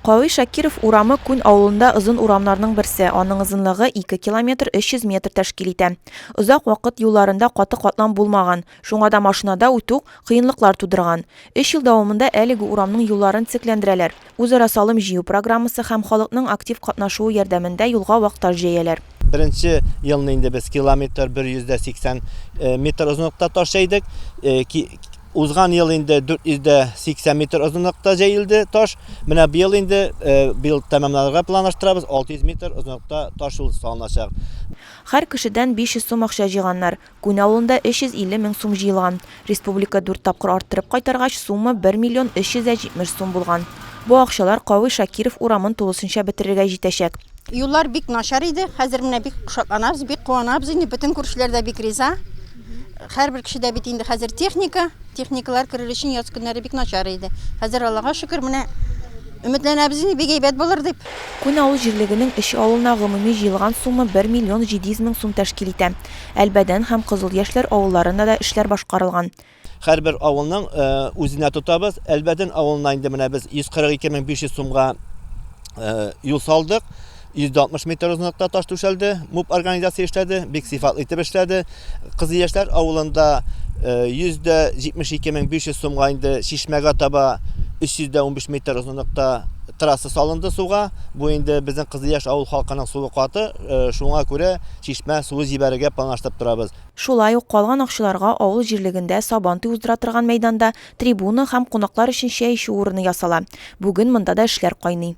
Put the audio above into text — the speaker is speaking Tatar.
Кави Шакиров урамы Күн авылында озын урамнарның берсе, аның озынлыгы 2 километр 300 метр тәшкил итә. Озак вакыт юлларында каты катлам булмаган, шуңа да машинада үтү кыенлыклар тудырган. Өч ел дәвамында әлеге урамның юлларын төзекләндерәләр. үзара салым җыю программасы һәм халыкның актив катнашуы ярдәмендә юлга вак таш җәяләр. Беренче елны инде без километр 180 метр озынлыкта таш җәйдек. Узган ел инде 480 метр озынлыкта җәелде таш. Менә быел инде быел тәмамларга планлаштырабыз, 600 метр озынлыкта таш юл салыначак. Һәр кешедән 500 сум акча җыйганнар. Күн авылында 350 мең сум җыелган. Республика дүрт тапкыр арттырып кайтаргач, сумма 1 миллион 370 сум булган. Бу акчалар Кави Шакиров урамын тулысынча бетерергә җитәчәк. Юллар бик начар иде, хәзер менә бик шатланабыз, бик куанабыз инде. Бөтен күршеләр дә бик риза. Һәрбер кеше дә бит инде хәзер техника, техникалар керер өчен яз көннәре бик начар иде. Хәзер, Аллага шөкер, менә өметләнәбез инде, бик әйбәт булыр дип. Күн авыл җирлегенең өч авылына гомуми җыелган сумма 1 миллион 700 мең сум тәшкил итә. Әлбәдән һәм Кызыл Яшьләр авылларында да эшләр башкарылган. Һәрбер авылның үзенә тотабыз. Әлбәдән авылына инде менә без 142 мең 500 сумга юл салдык. 160 метр озынлыкта таш түшәлде. МУП организация эшләде, бик сыйфатлы итеп эшләде. Кызыл Яшьләр авылында 172 мең 500 сумга инде чишмәгә таба 315 метр озынлыкта трасса салынды суга. Бу инде безнең Кызыл Яшь авыл халкының сулы каты, шуңа күрә Чишмә суы җибәрергә планлаштырып торабыз. Шулай ук калган акчаларга авыл җирлегендә Сабантуй уздыра торган мәйданда трибуна һәм кунаклар өчен чәй эчү урыны ясала. Бүген монда да эшләр кайный.